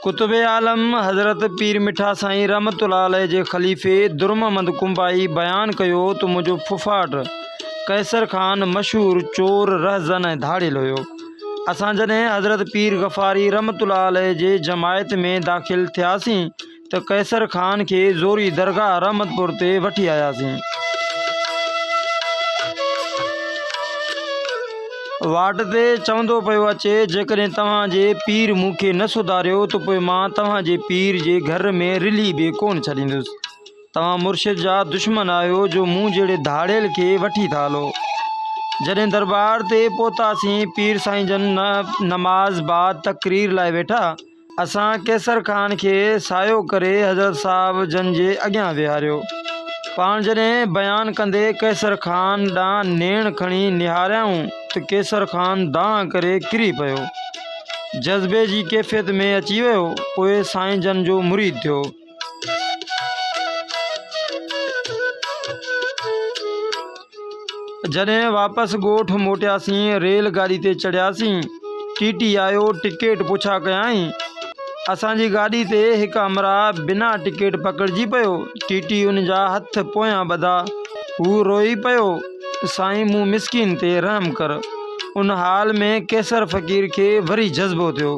قطب عالم حضرت پير مٺا سائين رحمت الله عليه جي خليفي درم محمد ڪنبائي بيان ڪيو ته منهنجو ڦڦاٽ قيصر خان مشهور چور رهزن ۽ ڌاڙيل هيو اسان جڏهن حضرت پير غفاري رحمت الله عليه جي جماعت ۾ داخل ٿياسين ته قيصر خان کي زوري درگاهه رحمتپور تي وٺي آياسين. واٽ تي چوندو پيو اچي، جيڪڏهن توهان جي پير مون کي نه سڌاريو ته پوء مان توهان جي پير جي گهر ۾ رلهي به ڪونه ڇڏيندس. توهان مرشد جا دشمن آهيو جو مون جهڙي ڌاڙيل کي وٺي ٿا هلو. جڏهن درٻار تي پهتاسين، پير سائين جن نماز بعد تقرير لاء ويٺا. اسان قيصر خان کي سايو ڪري حضرت صاحب جن جي اڳيان ويهاريو. پاڻ جڏهن بيان ڪندي قيصر خان ڏانهن نيڻ کڻي نهاريائون ته قيصر خان دانهن ڪري ڪري پيو. جذبي جي ڪيفيت ۾ اچي ويو. پوء سائين جن جو مريد ٿيو. جڏهن واپس ڳوٺ موٽياسين ريل گاڏي تي چڙهياسين ٽي ٽي آيو ٽڪيٽ پڇا ڪيائين اسان جي گاڏي تي هڪ امراء بنا ٽڪيٽ پڪڙجي پيو ٽي ٽي ان جا هٿ پويان ٻڌا هو روئي پيو سائين مون مسڪين تي رحم ڪر ان حال ۾ قيصر فقير کي وري جذبو ٿيو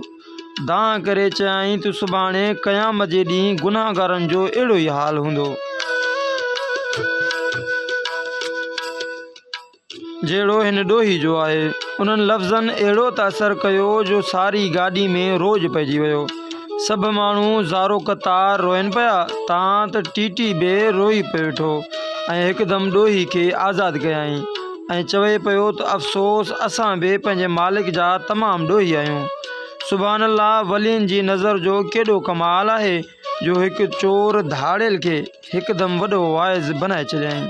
دانهن ڪري چيائين ته سڀاڻي قيامت جي ڏينهن گناهگارن جو اهڙو ئي حال هوندو، جهڙو هن ڏوهي جو آهي. انهن لفظن اهڙو ته اثر ڪيو جو ساري گاڏي ۾ روڄ پئجي ويو. سڀ ماڻهو زارو قطار روئن پيا، تان ته ٽي ٽي به روئي پيو ويٺو ۽ هڪدم ڏوهي کي آزاد ڪيائين. ۽ چوي پيو ته افسوس اسان به پنهنجي مالڪ جا تمام ڏوهي آهيون. سبحان الله ولين جي نظر جو ڪيڏو ڪمال آهي جو هڪ چور ڌاڙيل کي هڪدم وڏو واعظ بنائي ڇڏيائين.